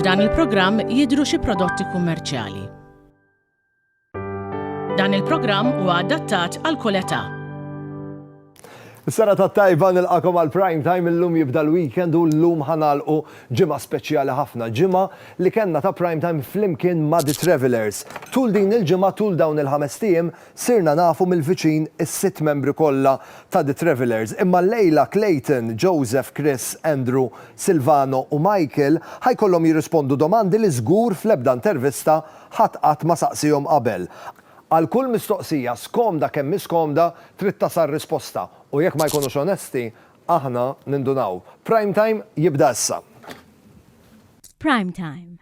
F'dan il-programm jidhru xi prodotti kummerċjali. Dan il-programm huwa adattat għal kull età. Is-sena tat-tajba nilqakom għal prime time illum jibda l-weekend u llum ħanalqu ġimgħa speċjali ħafna. Ġimgħa li kellna ta' prime time flimkien ma' The Travelers. Tul din il-ġimgħa tul dawn il-ħames tiem Sirna nafu mill-viċin is-sitt membri kollha ta' The Travellers, imma llejla Clayton, Joseph, Chris, Andrew, Silvano u Michael ħa jkollhom jirrispondu domandi li żgur fl-ebda intervista ħadd qatt ma saqsiehom qabel. Għal kull mistoqsija, skomda kemm hi skomda, trid tasal risposta, u jekk ma jkunux onesti, aħna nindunaw. Prime Time jibda issa. Prime Time,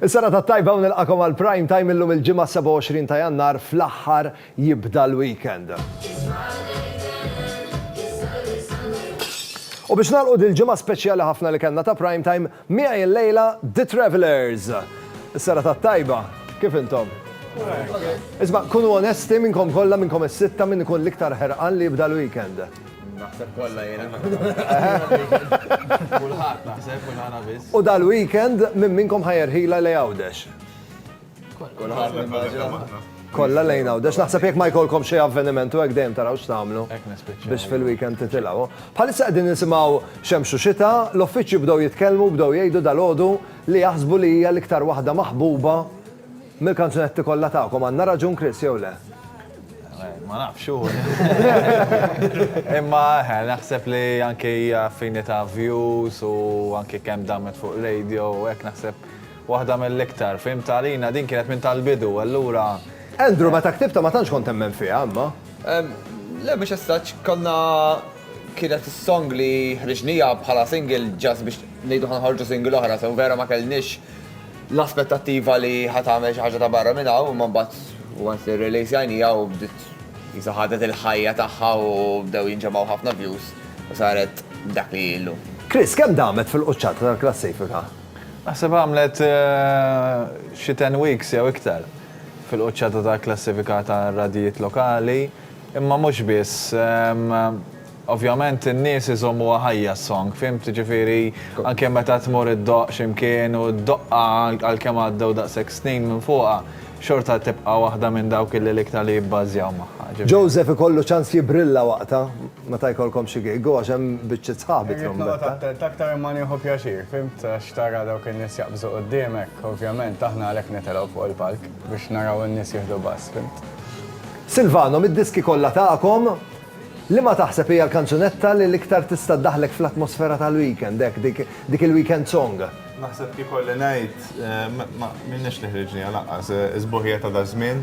Is-sena ta' tajba u nilqakom għal prime time illum il-ġimgħa 27 ta' Jannar fl-aħħar jibda l-weekend. U biex nagħlqu dil-ġimgħa speċjali ħafna li kellna ta' prime time, Miegħi illejla The Travellers. Is-serata t-tajba, kif intom? Isma', kunu onesti minnkom kollha, minnkom is-sitta min ikun l-iktar ħerqan li jibda l-weekend? Naħseb kollha jiena. Kulħadd naħseb mhux aħna biss. U dal-weekend minn minnkom ħa jerħilha lejn Għawdex? Kolla lejn għaw, dax naħseb jek ma jkolkom xie avveniment u għek dejjem taraw x'tamlu biex fil-weekend titilaw. Bħalissa qegħdin nisimgħu xemxu xita, l-uffiċċju bdew jitkellmu, bdew jgħidu dal-għodu li jaħsbu li hija l-iktar waħda maħbuba mill-kanzunetti kollha tagħkom. Għandna raġun Chris jew le? Ma nafx hu. Imma eh, naħseb li anke hija finita views u anke kemm damet fuq radio u hekk naħseb Waħda mill-iktar, fhimt għalina din kienet minn tal-bidu, allura. Andrew, meta ktibtha ma tantx kont temmen fiha, imma. Le mhux as such, konna kienet is-song li ħriġnija bħala single just biex ngħidu ħa nħorġu single oħra, so vera ma kellniex l-aspettattiva li ħa tagħmel xi ħaġa ta' barra minn hawn, imma mbagħad once li releasjajnija u bdiet qisha ħadet il-ħajja tagħha u bdew jinġemgħu ħafna views u saret dak li hi llum. Chris, kemm damet fil-quċċata tal-klassifika? Naħseb għamlet xi ten weeks jew iktar fil-quċċata tal-klassifika tar-radjijiet lokali, imma mhux biss. Ovvjament in-nies iżommuha ħajja s-song, fhimt? Jiġifieri anke meta tmur iddoqq xi mkien u ddoqqha għalkemm għaddew daqshekk snin minn fuqha, xorta tibqa' waħda minn dawk li l-iktar li jibbażjaw magħha. Joseph ikollu ċans jibbrilla waqtha. Meta jkollkom xi gig, u għax hemm biċċiet sħaħ bi trombetta. Irrid noqgħod attent aktar imma nieħu pjaċir, fimt, għax tara dawk in-nies jaqbżu quddiemek, ovvjament, aħna għalhekk nitilgħu fuq il-palk, biex naraw in-nies jieħdu bass, fimt. Silvano, mid-diski kollha tagħkom, liema taħseb hija l-kanzunetta li l-iktar tista' ddaħħlek fl-atmosfera tal-weekend, hekk, dik il-weekend song? Naħseb kiekolli ngħid, m'għandniex li ħriġniha lanqas, is-sbuħija ta' daż-żmien.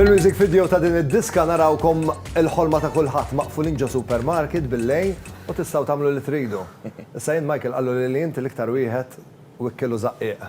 Fil-music video ta' din id-diska narawkom il-ħolma ta' kulħadd maqfulin ġo supermarket bil-lejn u tistgħu tagħmlu li tridu. Issa jien Michael qallu li inti l-iktar wieħed u ikkilu żaqqiq.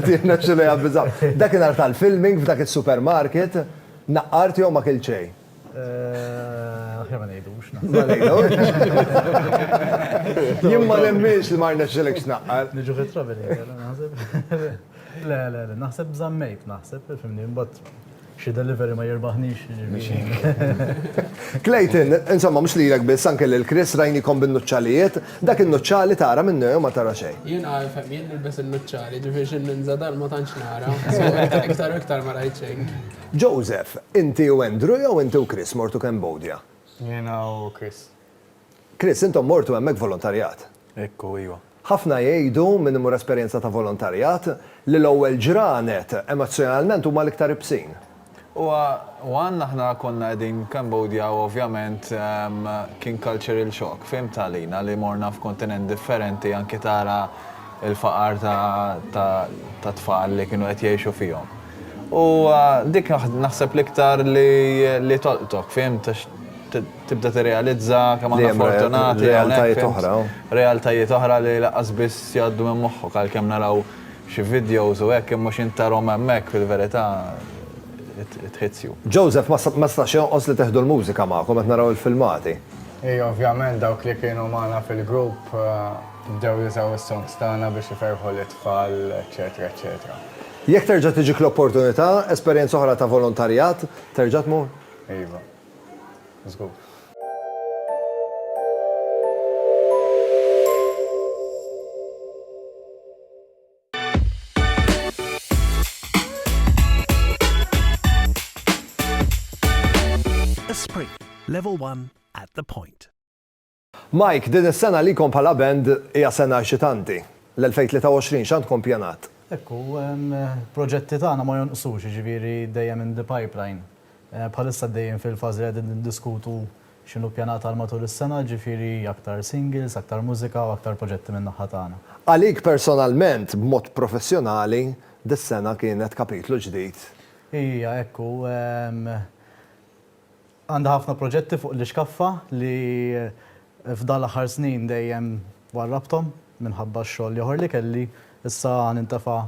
Tiħna xi li għabbiżaw. Dakinhar tal-filming f'dak is-supermarket naqqart jew ma kilċej. Aħjar ma ngħidux. Ma ngħidux. Jien ma nemminx li ma rnexxilekx tnaqqar. Niġu fit-travel naħseb. Le, le, le, naħseb żammejt, naħseb, fimni, imbagħad xi delivery ma jirbaħnix. Clayton, insomma, mhux lilek biss anke lil Chris rajnikom bin-nuċċalijiet, dak in-nuċċali tara minnu jew ma tara xejn. Jien għalfek, jien nilbes in-nuċċali, ġifieri xi ninża dan ma tantx nara. Iktar u iktar ma rajt xejn. Joseph, Inti u Andrew jew inti u Chris mortu Cambodia? Jiena u Chris. Chris, Intom mortu hemmhekk volontarjat? Hekk hu, iwa. Ħafna jgħidu, min imur esperjenza ta' volontarjat, li l-ewwel ġranet, emozzjonalment, huma l-iktar ibsin. Huwa, one, aħna konna qegħdin Cambodia u ovvjament kien cultural shock, fhimt, għalina li morna f'kontinent differenti anki tara l-faqar ta' tfal li kienu qed jgħixu fihom. U dik naħseb l-iktar li tolqtok, fhimt, għax tibda tirrealizza kemm aħna fortunati. Realtajiet oħra. Realtajiet oħra li lanqas biss jgħaddu minn moħħok għalkemm naraw xi videos u hekk imma x'int tarahom hemmhekk fil-verità it hits you. Joseph, ma stax jonqos li teħdu l-mużika magħkom qed naraw il-filmati. Iva, ovvjament dawk li kienu magħna fil-grupp bdew jużaw is-songs tagħna biex iferrħu lit-tfal eċċetera eċċetera. Jekk terġa' tiġik l-opportunità, esperjenza oħra ta' volontarjat, terġa' tmur? Iva. Żgur. Esprit, Level One at the Point. Mike, din is-sena għalikom bħala band hija sena eċitanti. L-2023 x'għandkom ppjanat? Hekk hu, il-proġetti tagħna ma jonqsux, jiġifieri dejjem in the pipeline. Bħalissa għaddejjin fil-fażi li qegħdin niddiskutu x'inhu ppjanat għal matul is-sena, jiġifieri aktar singles, aktar mużika u aktar proġetti min-naħa tagħna. Għalik personalment, b'mod professjonali, dis-sena kienet kapitlu ġdid? Hija hekk hu. Għandha ħafna proġetti fuq l-ixkaffa li f'dan l-aħħar snin dejjem warrabthom minħabba x-xogħol l-ieħor li kelli, issa nintefa'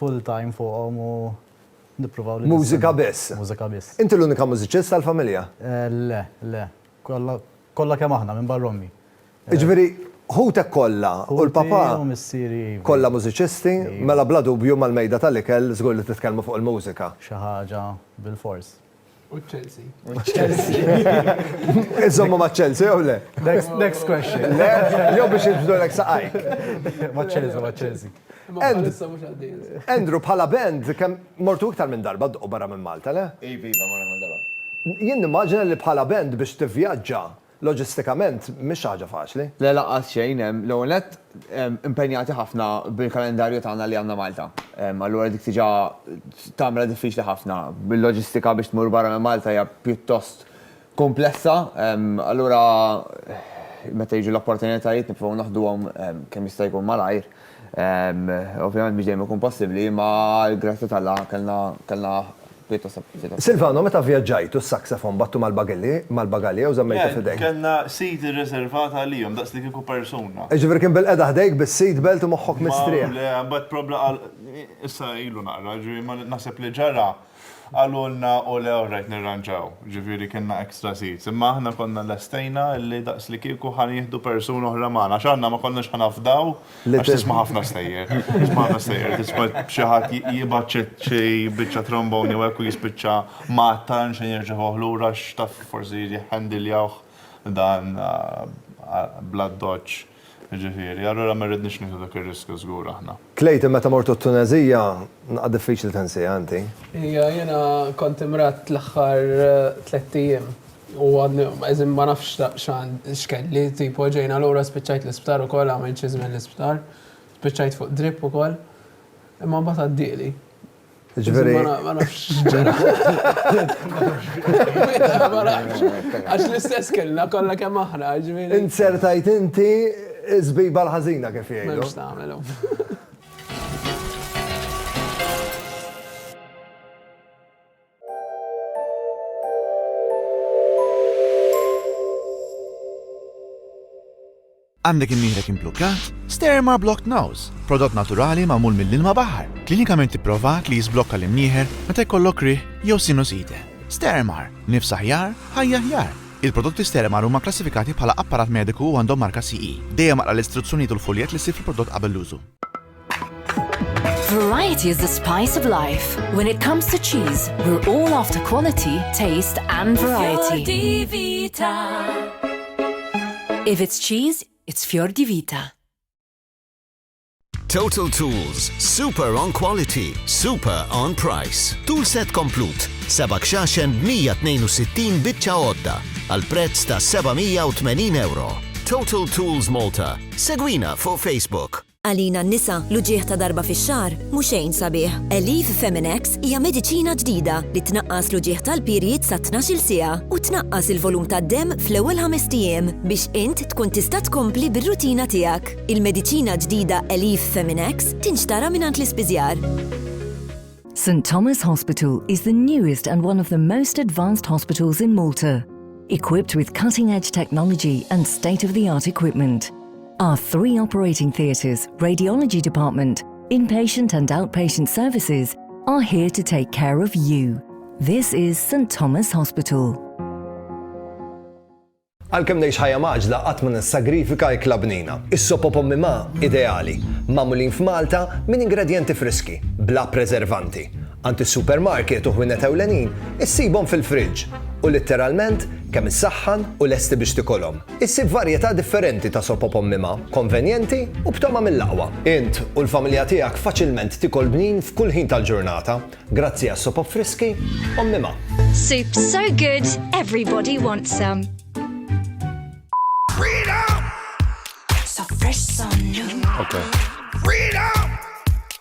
full time fuqhom u nipprovaw li. Mużika biss. Mużika biss. Inti l-unika mużiċist tal-familja? Le, le. Kollha, kollha kemm aħna minbarra ommi. Jiġifieri ħutek kollha u l-papà. Ħuti u missieri iva. Kollha mużiċisti, mela bla dubju mal-mejda tal-ikel żgur li titkellmu fuq il-mużika. Xi ħaġa bilfors. U Chelsea. U Chelsea. Iżommu ma' Chelsea, jew le? Next question. Le, jew biex jibżdu l saqajk. Ma' Chelsea, ma' Chelsea. Andrew, bħala band, kem mortu iktar minn darba d-duq barra minn Malta, le? Iva, iva, morra minn darba. Jien nimmaġina li bħala band biex tivvjaġġa Loġistikament mhix xi ħaġa faċli. Le lanqas xejn, l-ewwel nett impenjati ħafna bil-kalendarju tagħna li għandna Malta. Allura dik diġà tagħmilha diffiċli ħafna. Bil-loġistika biex tmur barra minn Malta hija pjuttost kumplessa, allura meta jiġu l-opportunitajiet nipprovaw naħduhom kemm jista' jkun malajr. Ovvjament mhux dejjem ikun possibbli, imma għall-grazzja t'Alla kellna kellna pjuttost opportunitajiet. Silvano, meta vvjaġġajtu s-saxofon bgħattu mal-bagelli, mal-bagalja jew żammejtu f'idejk? Le, kellna seat irriservat għalihom, daqs li kieku persuna. Jiġifieri kien bil-qegħda ħdejk bis-seat belt u moħħok mistrieħ. Ma le, imbagħad probla qal, issa ilu naqra, jiġifieri ma naħseb li ġara. Qalulna u le orrajt nirranġaw, ġifieri kellna extra seats, imma aħna konna lestejna li daqslikieku ħa nieħdu persuna oħra magħna għax aħna ma konniex ħa nafdaw għax tisma' ħafna stejjer. Tisma' ħafna stejjer, tisma' xi ħadd jibgħat xi biċċa trombone jew hekk u jispiċċa mgħattar mhux se jirċevuh lura għax taf forsi jriħħendiljawh dan bl-addoċċ. Jiġifieri, allura ma rridniex nieħdu dak ir-riskju żgur aħna. Tlejt, meta mortu t-Tuneżija, naqgħad diffiċli tinsiha inti. Hija, jiena kont imradd l-aħħar tlett ijiem u għadni qisni ma nafx x'kelli, tipo ġejna lura spiċċajt l-isptar ukoll, għamilt xi żmien l-isptar, spiċċajt fuq drip ukoll. Imma mbagħad għaddieli. Ġveri. Ma nafx. Ma nafx. Għax l-istess kellna kollha kemm aħna, ġveri. Insertajt inti zbiba l-ħażina kif jgħidu. Mhux tagħmelu. Għandek imnieħrek imblukkat? Sterma Blocked Nose, prodott naturali magħmul mill-ilma baħar, klinikament ipprovat li jiżblokka l-imnieħer meta jkollok riħ jew sinusite. Stermar, nifs aħjar, ħajja aħjar! Il-prodotti Stermar huma kklassifikati bħala apparat mediku u għandhom marka CE. Dejjem aqra l-istruzzjonijiet u l-fuljett li ssib fil-prodott qabel l-użu. Variety is the spice of life. When it comes to cheese, we're all after quality, taste and variety. If it's cheese, it's Fior di Vita. Total Tools, super on quality, super on price. Tool set komplut, sebak xaxen 162 bitċa odda, għal prezz ta' 780 euro. Total Tools Malta, segwina fuq Facebook. Għalina n-nisa, l-uġigħ ta' darba fix-xahar mhu xejn sabiħ. Aleve Feminex hija mediċina ġdida li tnaqqas l-uġigħ tal-period sa tnax-il siegħa u tnaqqas il-volum tad-demm fl-ewwel ħamest ijiem biex int tkun tista' tkompli bir-rutina tiegħek. Il-mediċina ġdida Aleve Feminex tinxtara mingħand l-ispiżjar. St Thomas Hospital is the newest and one of the most advanced hospitals in Malta, equipped with cutting-edge technology and state-of-the-art equipment. Our three operating theaters, radiology department, inpatient and outpatient services are here to take care of you. This is St Thomas Hospital. Għalkemm ngħix ħajja maġla qatt ma nissagrifika ikla bnina. Is-sopo pommi ma ideali, magħmulin f'Malta minn ingredjenti friski, bla preservanti. Għand is-supermarket u ħwienet ewlenin issibhom fil-friġġ u litteralment kemm issaħħan u lesti biex tikolhom. Issib varjetà differenti ta' sopop ommima, konvenjenti u b'togħma mill-aqwa. Int u l-familja tiegħek faċilment tikol bnin f'kull ħin tal-ġurnata grazzi għas-sopop friski ommima. Soup so good everybody wants some. Freedom! So fresh, so new. Okay. Freedom!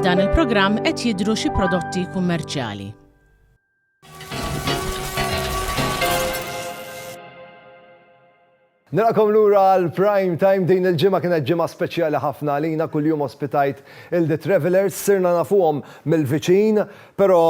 F'dan il-programm qed jidhru xi prodotti kummerċjali. Nilqakom lura għal prime time din il-ġimgħa kienet ġimgħa speċjali ħafna għalina kuljum ospitajt il-The Travelers sirna nafuhom mill-viċin, però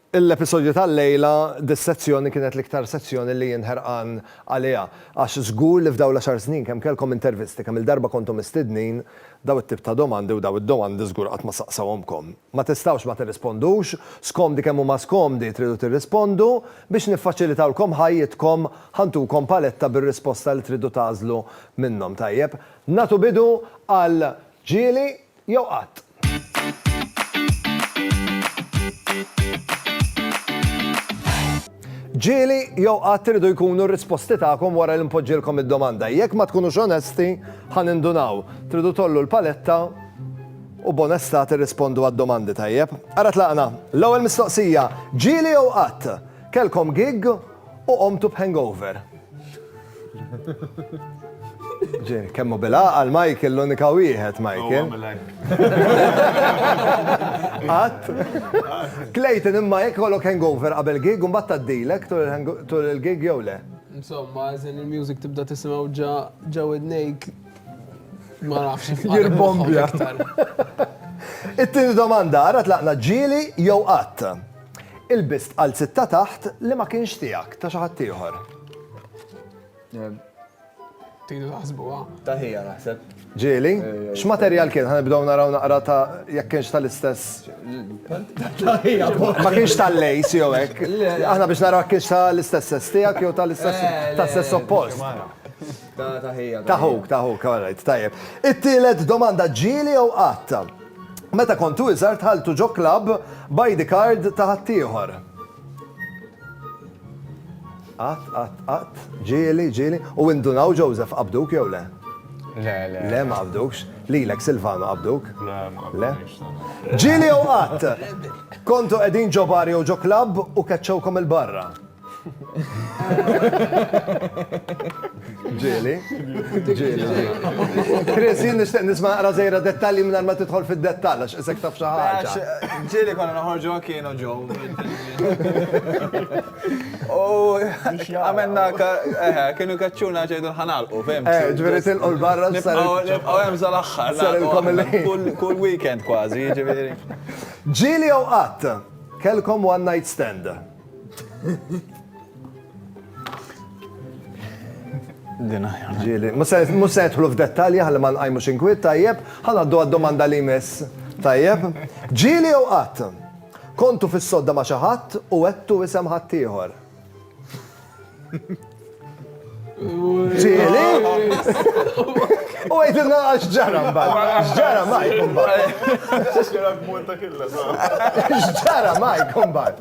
L-episodju tal-lejla, dis-sezzjoni kienet l-iktar sezzjoni li jien ħerqan għaliha, għax żgur li f'dawn l-għaxar snin kemm kellkom intervisti, kemm-il darba kontu mistednin, dawn it-tip ta' domandi u dawn id-domandi żgur qatt ma saqsewhomkom. Ma tistgħux ma tirrispondux, skomdi kemm huma skomdi tridu tirrispondu, biex niffaċilitawlkom ħajjitkom ħa ntukom paletta bir-risposta li tridu tagħżlu minnhom. Tajjeb, nagħtu bidu għal ġieli jew qatt. Ġieli jew qatt iridu jkunu r-risposti tagħkom wara li npoġġilkom id-domanda. Jekk ma tkunux onesti, ħa nindunaw. Tridu tgħollu l-paletta u b'onestà tirrispondu għad-domandi tajjeb. Ara tlaqna, l-ewwel mistoqsija, ġieli jew qatt kellkom gig u qomtu b'hangover? Ġej, kemmu bil-għaqal Michael l-unika wieħed Michael. Għat. Clayton imma jekk kollok hangover qabel gig u mbagħad taddilek tul il-gig jew le. Insomma, għazin il-music tibda tisimaw ġa ġa widnejk. Ma nafx. Jirbombja. It-tieni domanda, għara tlaqna ġili jew qatt. Ilbist qalziet ta' taħt li ma kienx tiegħek, ta' xi ħadd ieħor. Tridu taħsbuha. Ta' ħija naħseb. Ġieli, x'materjal kien? Ħa nibdew naraw naqra ta' jekk kienx tal-istess. Ta' ħija. Ma kienx tal-lejs jew hekk. Aħna biex naraw jekk kienx tal-istess sess tiegħek jew tal-istess tas-sess oppost. Ta' ħija. Ta' ħuk, ta' ħuk, all right, tajjeb. It-tielet domanda, ġieli jew qatta? Meta kontu iżgħar dħaltu ġo klabb b'ID card ta' ħaddieħor. Qatt, qatt, qatt, ġieli, ġieli, u indunaw Joseph qabduk jew le? Le, le. Le ma qabdukx, lilek Silvano qabduk? Le, ma qabdukx. Ġieli jew qatt? Kontu qegħdin ġo bar jew ġo klabb u keċċewkom il-barra? Ġieli. Ġieli. Chris, jien nixtieq nisma' naqra żejra dettalji minn ma tidħol fid-dettall għax isek taf xi ħaġa. Ġieli konna noħorġu kienu ġew. U għamilna eh, kienu kaċċuna ġejdu l-ħanalqu, fim. Eh, ġifieri tilqu l-barra sar. Nibqgħu hemm sal-aħħar. Kull weekend kważi, ġifieri. Ġieli jew qatt, kelkom one night stand. Dina, ġili. Mus setħlu f'dettalji ħalli ma nqajmu xinkwit, tajjeb, ħal għaddu għad-domanda li jmiss. Tajjeb, ġili jew qatt? Kontu fis-sodda ma' xi ħadd u għettu isem ħaddieħor. Ġieli? U għajtilna għax ġara mbagħad. X'ġara ma jkun mbagħad. X'ġara ma jkun mbagħad.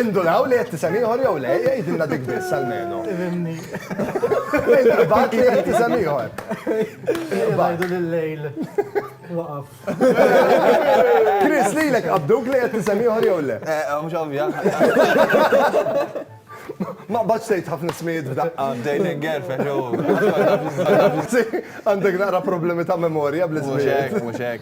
Indulaw li qed tisem ieħor jew le, jgħidilna dik biss almenu. Imbagħad li qed tisem ieħor. Bajdu l-lejl. Waqaf. Chris lilek qabduk li qed tisem ieħor jew le. Eh, Mhux ovvja. Ma qbadx tgħid ħafna ismijiet f'daqqa, bdejlek gerfex u. Għandek naqra problemi ta' memorja bl-ismijiet. Mhux hekk, mhux hekk.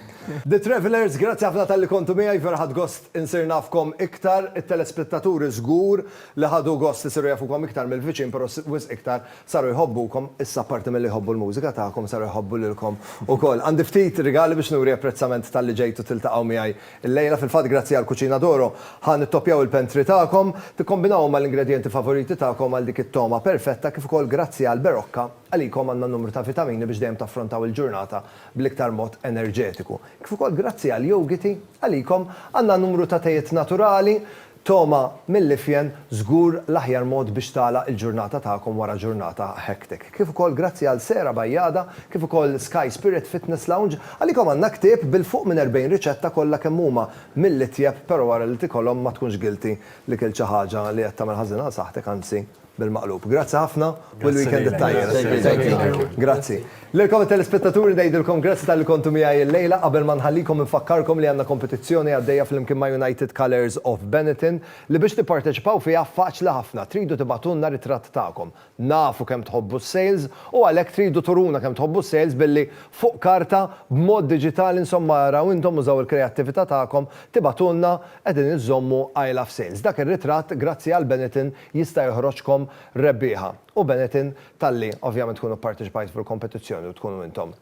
The Travellers, grazzi ħafna talli kontu miegħi, vera ħadt gost insir nafkom iktar. It-telespettaturi żgur li ħadu gost isiru jafukom iktar mill-viċin però wisq iktar saru jħobbukom. Issa apparti milli jħobbu l-mużika tagħkom saru jħobbu lilkom ukoll. Għandi ftit rigali biex nuri apprezzament talli ġejtu tiltaqgħu miegħi Illejla, fil-fatt grazzi għal Cucina d'Oro, ħa nittoppjaw il-pentry tagħkom, tikkombinawhom mal-ingredjenti favoriti tagħkom għal dik it-togħma perfetta kif ukoll grazzi għal Berocca, għalikom għandna numru ta' vitamini biex dejjem taffrontaw il-ġurnata bl-iktar mod enerġetiku. Kif ukoll grazzi għal Yougiti, għalikom għandna numru ta' tejiet naturali Togħma mill-ifjen żgur l-aħjar mod biex tagħlaq il-ġurnata tagħkom wara ġurnata hectic. Kif ukoll grazzi għal Sera Bajada kif ukoll Sky Spirit Fitness Lounge, għalikom għandna ktieb bil-fuq minn 40 riċetta kollha kemm huma mill-itjeb pero wara li tikolhom ma tkunx guilty li kilt xi ħaġa li qed tagħmel ħażin għal saħħtek anzi. Bil-maqlub. Grazzi ħafna u l-weekend it-tajjeb. Thank you. Grazzi. Lilkom it-telespettaturi ngħidilkom grazzi talli kontu miegħi l-lejla. Qabel ma nħallikom infakkarkom li għandna kompetizzjoni għaddejja flimkien ma' United Colours of Benetton li biex tipparteċipaw fiha faċli ħafna. Tridu tibagħtulna ritratt tagħkom. Nafu kemm tħobbu s-sales u għalhekk tridu turuna kemm tħobbu s-sales billi fuq karta, b'mod diġitali insomma araw intom użaw il-kreattività tagħkom tibagħtulna qegħdin inżommu I love sales. Dak ir-ritratt grazzi għal Benetton jista' joħroġkom rebbieħa u Benetton talli ovvjament tkunu pparteċipajtu fil-kompetizzjoni u tkunu intom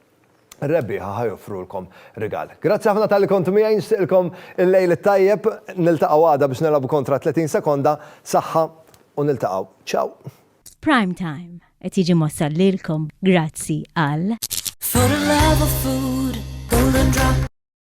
ir-rebbieħa ħa joffrulkom rigal. Grazzi ħafna talli kontu miegħi nixtieqilkom il-lejl it-tajjeb niltaqgħu għada biex nilgħabu kontra 30 sekonda, saħħa u niltaqgħu. Ciao! Prime Time qed jiġi mwassal lilkom grazzi għal.